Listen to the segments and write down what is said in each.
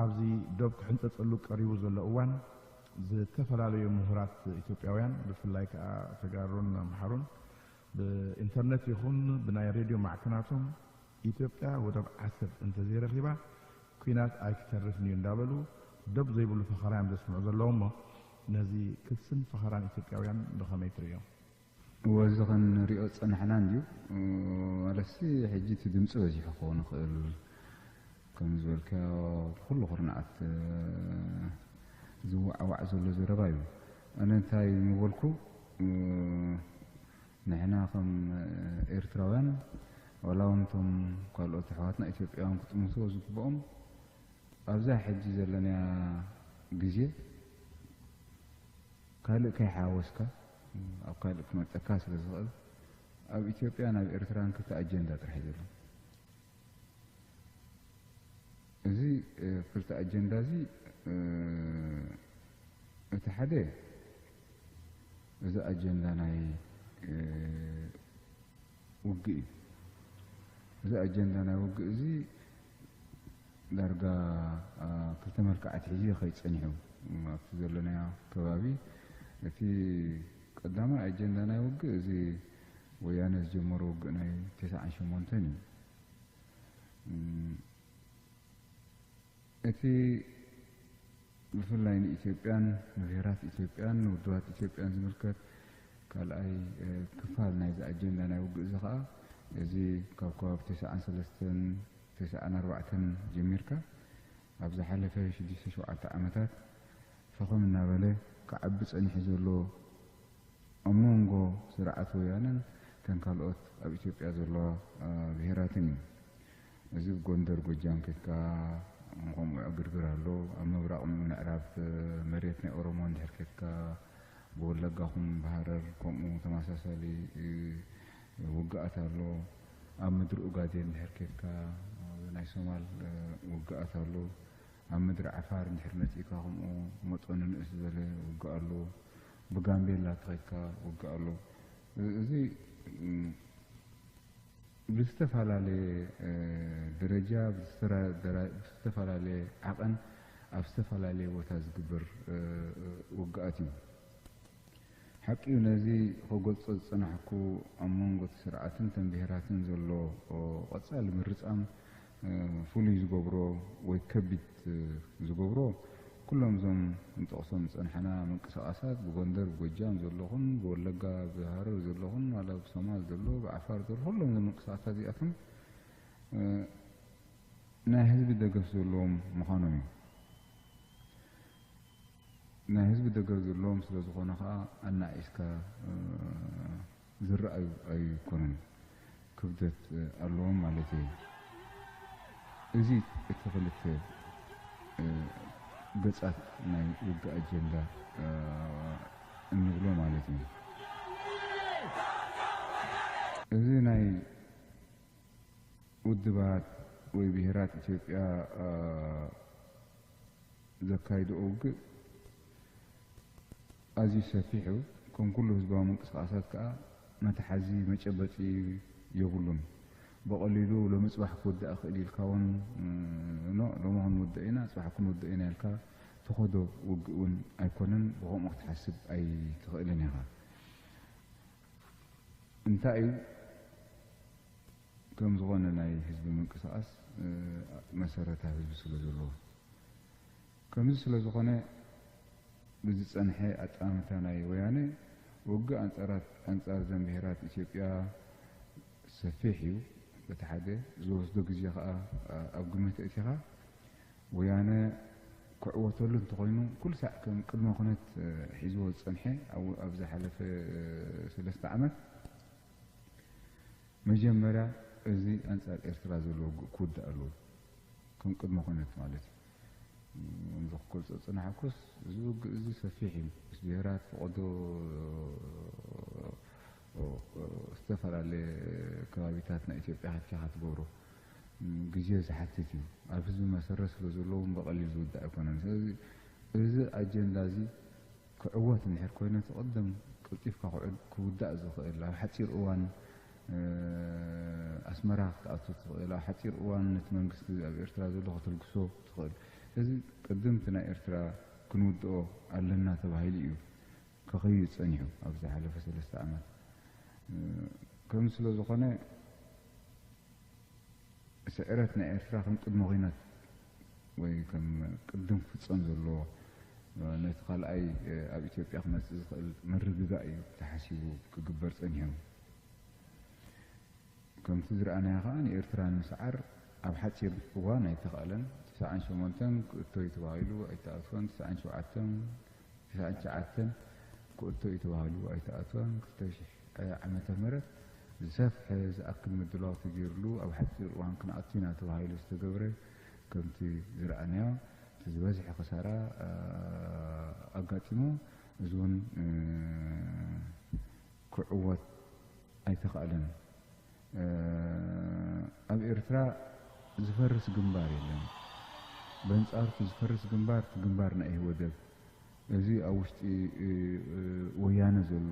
ኣብዚ ዶብ ክሕንጸጸሉ ቀሪቡ ዘሎ እዋን ዝተፈላለዩ ምሁራት ኢትዮጵያውያን ብፍላይ ከዓ ተጋሩን ኣምሓሩን ብኢንተርነት ይኹን ብናይ ሬድዮ ማዕከናቶም ኢትዮጵያ ወደብ ዓሰብ እንተዘይረኺባ ኲናት ኣይክተርፍን'ዩ እንዳበሉ ዶብ ዘይብሉ ፈኸራ'ዮም ዘስምዑ ዘለዉ'ሞ ነዚ ክስን ፈኸራን ኢትዮጵያውያን ብኸመይ ትርእዮ? እወ እዚ ክንሪኦ ዝጸናሕና እንድዩ ማለትሲ ሕጂ እቲ ድምጺ በዚሑ ክኸውን ይኽእል ከምዚ ዝበልካዮ ብኹሉ ኩርናዓት ዝዋዓዋዕ ዘሎ ዘረባ'ዩ ኣነ እንታይ ምበልኩ ንሕና ከም ኤርትራውያን ዋላውን እቶም ካልኦት ኣሕዋትና ኢትዮጵያውያን ክጥምትዎ ዝግብኦም ኣብዛ ሕጂ ዘለናያ ግዜ ካልእ ከይሓወስካ ኣብ ካልእ ክመልጠካ ስለ ዝኽእል ኣብ ኢትዮጵያን ኣብ ኤርትራን ክልተ ኣጀንዳ ጥራሕ እዩ ዘሎ። እዚ ክልተ ኣጀንዳ እዚ እቲ ሓደ እዚ ኣጀንዳ ናይ ውግእ እዩ። እዚ ኣጀንዳ ናይ ውግእ እዚ ዳርጋ ክልተ መልክዕ ኣትሒዙ ይኸይድ ጸኒሑ ኣብቲ ዘለናዮ ከባቢ እቲ ቀዳማይ ኣጀንዳ ናይ ውግእ እዚ ወያነ ዝጀመሮ ውግእ ናይ ተሰዓን ሸሞንተን እዩ። እቲ ብፍላይ ንኢትዮጵያን ንብሄራት ኢትዮጵያን ንውድባት ኢትዮጵያን ዝምልከት ካልኣይ ክፋል ናይዚ ኣጀንዳ ናይ ውግእ እዚ ከኣ እዚ ካብ ከባቢ ተሰዓን ሰለስተን ተሰዓን ኣርባዕተን ጀሚርካ ኣብ ዝሓለፈ ሽዱሽተ ሸውዓተ ዓመታት ፈኸም እናበለ ክዓቢ ጸኒሑ ዘሎ ኣብ ሞንጎ ስርዓት ወያነን እተን ካልኦት ኣብ ኢትዮጵያ ዘለዋ ብሄራትን እዩ። እዚ ብ ጎንደር ጎጃም ኬድካ ከምኡ ዕግርግር ኣሎ። ኣብ ምብራቕ ምዕራብ መሬት ናይ ኦሮሞ እንድሕር ኬድካ ብወለጋ ኹን ብሃረር ከምኡ ተመሳሳሊ ውግኣት ኣሎ። ኣብ ምድሪ ኡጋዴን እንድሕር ኬድካ ብ ናይ ሶማል ውግኣት ኣሎ። ኣብ ምድሪ ዓፋር እንድሕር መጺእካ ከምኡ መጠኑ ንእስ ዝበለ ውግእ ኣሎ። ብጋምቤላ ተኺድካ ውግእ ኣሎ እዚ ብዝተፈላለየ ደረጃ ብዝተፈላለየ ዓቐን ኣብ ዝተፈላለየ ቦታ ዝግበር ውግኣት እዩ። ሓቂዩ ነዚ ክገልጾ ዝጸናሕኩ ኣብ መንጎ እቲ ስርዓትን እተን ብሄራትን ዘሎ ቀጻሊ ምርጻም ፍሉይ ዝገብሮ ወይ ከቢድ ዝገብሮ ኩሎም እዞም ክንጠቕሶም ዝጸናሕና ምንቅስቓሳት ብጎንደር ብጎጃም ዘሎ ኹን ብወለጋ ብሃረር ዘሎ ኹን ዋላ ብሶማል ዘሎ ብዓፋር ዘሎ ኩሎም እዞም ምንቅስቓሳት እዚኣቶም ናይ ህዝቢ ደገፍ ዘለዎም ምዃኖም እዩ። ናይ ህዝቢ ደገፍ ዘለዎም ስለ ዝኾነ ኸኣ ኣናኣኢስካ ዝረኣዩ ኣይኮኑን ክብደት ኣለዎም ማለተይ እዩ እዚ እቲ ክልተ ገጻት ናይ ውግእ ኣጀንዳ እንብሎ ማለት እዩ። እዚ ናይ ውድባት ወይ ብሄራት ኢትዮጵያ ዘካይድኦ ውግእ፣ ኣዝዩ ሰፊሕ እዩ፣ ከም ኩሉ ህዝባዊ ምንቅስቓሳት ከኣ መትሓዚ መጨበጢ የብሉን። ብቐሊሉ ሎሚ ጽባሕ ክውዳእ ይኽእል እዩ ኢልካ ውን ን ሎሚ ክንውድእ ኢና ጽባሕ ክንውድእ ኢና ኢልካ ትኸዶ ውግእ ውን ኣይኮነን፣ ብኸምኡ ክትሓስብ ኣይትኽእልን ኢኻ። እንታይ እዩ ከም ዝኾነ ናይ ህዝቢ ምንቅስቓስ መሰረት ኣብ ህዝቢ ስለ ዘለዎ። ከምዚ ስለ ዝኾነ ብዝጸንሐ ኣጠማምታ ናይ ወያነ ውግእ ኣንጻር ዘን ብሄራት ኢትዮጵያ ሰፊሕ እዩ በቲ ሓደ ዝወስዶ ግዜ ከኣ ኣብ ግምት ኣእቲኻ ወያነ ክዕወተሉ እንተኾይኑ ኩልሳዕ ከም ቅድመ ኩነት ሒዝዎ ዝጸንሐ ኣብ ዝሓለፈ ሰለስተ ዓመት መጀመርያ እዚ ኣንጻር ኤርትራ ዘሎ ውግእ ክውዳእ ኣለዎ ከም ቅድመ ኩነት ማለት እዩ። እዚ ክገልጾ ዝጸናሕኩስ እዚ ውግእ እዚ ሰፊሕ እዩ። ምስ ብሄራት ፍቐዶ ዝተፈላለየ ከባቢታት ናይ ኢትዮጵያ ሃፍቲኻ ትገብሮ ግዜ ዝሓትት እዩ። ኣብ ህዝቢ መሰረት ስለዘለዎ እውን ብቐሊል ዝውዳእ ኣይኮነን። ስለዚ እዚ ኣጀንዳ እዚ ክዕወት እንድሕር ኮይኑቲ ቅድም ቀልጢፍካ ክውዳእ ዝኽእል ኣብ ሓጺር እዋን ኣስመራ ክትኣቱ ትኽእል ኣብ ሓጺር እዋን ነቲ መንግስቲ ኣብ ኤርትራ ዘሎ ከተልግሶ ትኽእል እዚ ቅድም እቲ ናይ ኤርትራ ክንውድኦ ኣለና ተባሂሉ እዩ ከኸይድ ጸኒሑ ኣብ ዝሓለፈ ሰለስተ ዓመት ከምዚ ስለ ዝኾነ ስዕረት ናይ ኤርትራ ከም ቅድመ ኩነት ወይ ከም ቅድም ክፍጸም ዘለዎ ነቲ ካልኣይ ኣብ ኢትዮጵያ ክመጽእ ዝኽእል ምርግጋእ እዩ ተሓሲቡ ክግበር ጸኒሑ። ከምቲ ዝረኣናዮ ከኣ ንኤርትራ ንምስዓር ኣብ ሓጺር እዋን ኣይተኻእለን። ትስዓን ሸሞንተን ክእቶ እዩ ተባሂሉ ኣይተኣትወን፣ ትስዓን ሸውዓተን፣ ትስዓን ትሽዓተን ክእቶ እዩ ተባሂሉ ኣይተኣትወን፣ ክልተ ሽሕ ዓመተ ምህረት ዝሰፍሐ ዝኣክል ምድላው ተገይርሉ ኣብ ሓጺር እዋን ክንኣቱ ኢና ተባሂሉ ዝተገብረ ከምቲ ዝረኣናዮ እቲ ዝበዝሐ ክሳራ ኣጋጢሙ እዚ እውን ክዕወት ኣይተኻእለን። ኣብ ኤርትራ ዝፈርስ ግንባር የለን። በንጻሩ እቲ ዝፈርስ ግንባር እቲ ግንባር ናይ ኢህወደግ እዚ ኣብ ውሽጢ ወያነ ዘሎ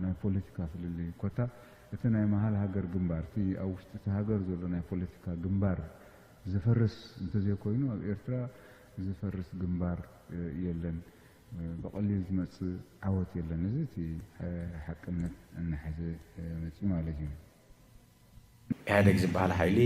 ናይ ፖለቲካ ፍልልይ ኮታ እቲ ናይ መሃል ሃገር ግንባር እቲ ኣብ ውሽጢ እቲ ሃገር ዘሎ ናይ ፖለቲካ ግንባር ዘፈርስ እንተዘይኮይኑ ኣብ ኤርትራ ዝፈርስ ግንባር የለን። ብቐሊል ዝመጽእ ዓወት የለን። እዚ እቲ ሓቅነት እናሓዘ መጺኡ ማለት እዩ። ኢህኣደግ ዝበሃል ሓይሊ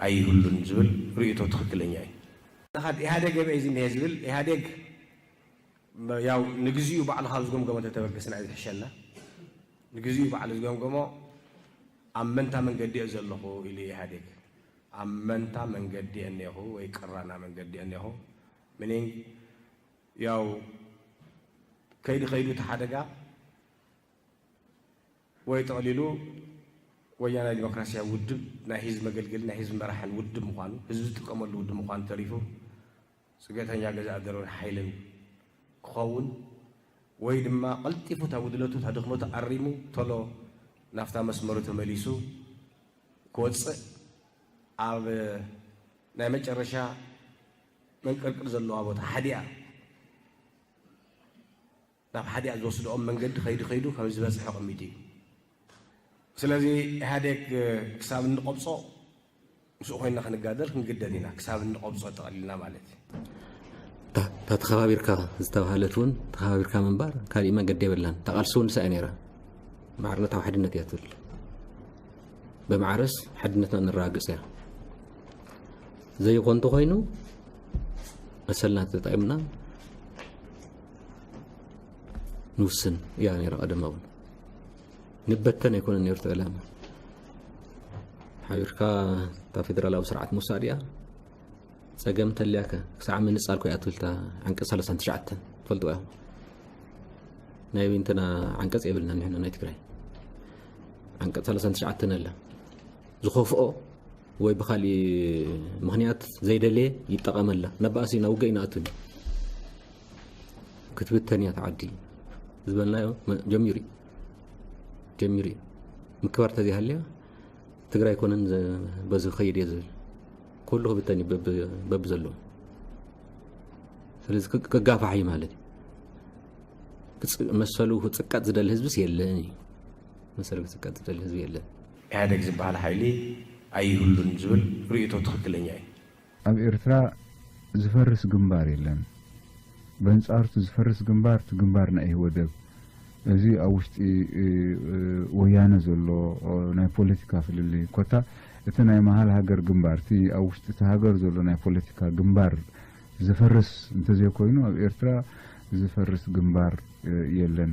ኣይህሉን ዝብል ርእይቶ ትኽክለኛ እዩ። እኻብ ኢህኣደግ የበይ እዚ እኒሀ ዝብል ኢህኣደግ ያው ንግዚኡ ባዕሉ ካብ ዝገምገሞ ተተበገስና እዩ ዝሕሸና። ንግዚኡ ባዕሉ ዝገምገሞ ኣብ መንታ መንገዲ እየ ዘለኹ ኢሉ እዩ ኢህኣደግ። ኣብ መንታ መንገዲ እየ እኒሀኹ ወይ ቅራና መንገዲ እየ እኒሀኹ meaning ያው ከይዱ ከይዱ እቲ ሓደጋ ወይ ጠቕሊሉ ወያናይ ዲሞክራሲያዊ ውድብ ናይ ህዝቢ መገልገሊ ናይ ህዝቢ መራሕን ውድብ ምዃኑ ህዝቢ ዝጥቀመሉ ውድብ ምዃኑ ተሪፉ ፅገተኛ ገዛእ ደርብን ሓይልን ክኸውን ወይ ድማ ቀልጢፉ እታ ጉድለቱ እታ ድኽመቱ ኣሪሙ ቶሎ ናፍታ መስመሩ ተመሊሱ ክወፅእ ኣብ ናይ መጨረሻ መንቅርቅር ዘለዋ ቦታ ሓዲኣ ናብ ሓዲኣ ዝወስድኦም መንገዲ ከይዱ ከይዱ ከም ዝበፅሐ ቅሚጡ እዩ ስለዚ ኢህኣዴግ ክሳብ እንቐብፆ ምስኡ ኮይና ክንጋደል ክንግደድ ኢና ክሳብ እንቐብፆ ጠቕሊልና ማለት እዩ እታ ተኸባቢርካ ዝተባሃለት እውን ተኸባቢርካ ምንባር ካሊእ መንገዲ የብላን እታ ቃልሲ እውን ንሳ እዩ ነይራ ማዕርነታዊ ሓድነት እያ ትብል ብማዕረስ ሓድነትና ነረጋግፅ እያ ዘይኾን እንተኾይኑ መሰልና ተጠቂምና ንውስን እያ ነይራ ቀደም እውን ንበተን ኣይኮነን ነይሩ ተዕላማ ሓቢርካ ካብ ፌደራላዊ ስርዓት ምውሳድ እያ ፀገም ተልያከ ክሳዕ ምንፃል ኮይ ኣትብልታ ዓንቀፅ ሰለሳን ትሽዓተን ትፈልጡ እዮም ናይ እንትና ዓንቀፅ የብልና ንሕና ናይ ትግራይ ዓንቀፅ ሰለሳን ትሽዓተን ኣላ ዝኸፍኦ ወይ ብካሊእ ምክንያት ዘይደለየ ይጠቐመላ ናብ ባእሲ ናብ ውግእ ይንኣቱ ዩ ክትብተን እያ ተዓዲ ዝበልናዮ ጀሚሩ ዩ ጀሚሩ ዩ ምክባር ተዘይሃልያ ትግራይ ኮነን በዚ ክኸይድ እየ ዝብል ኩሉ ክብተን እዩ በቢ ዘለዎ ስለዚ ክጋፋሕ እዩ ማለት እዩ መሰሉ ክፅቀጥ ዝደሊ ህዝብስ የለን እዩ መሰሉ ክፅቀጥ ዝደሊ ህዝቢ የለን ኢህኣደግ ዝበሃል ሓይሊ ኣይህሉን ዝብል ርእይቶ ትኽክለኛ እዩ። ኣብ ኤርትራ ዝፈርስ ግንባር የለን በንጻሩቲ ዝፈርስ ግንባር እቲ ግንባር ናይ ኢህወደግ እዚ ኣብ ውሽጢ ወያነ ዘሎ ናይ ፖለቲካ ፍልልይ ኮታ እቲ ናይ መሃል ሃገር ግንባር እቲ ኣብ ውሽጢ እቲ ሃገር ዘሎ ናይ ፖለቲካ ግንባር ዝፈርስ እንተዘይኮይኑ ኣብ ኤርትራ ዝፈርስ ግንባር የለን።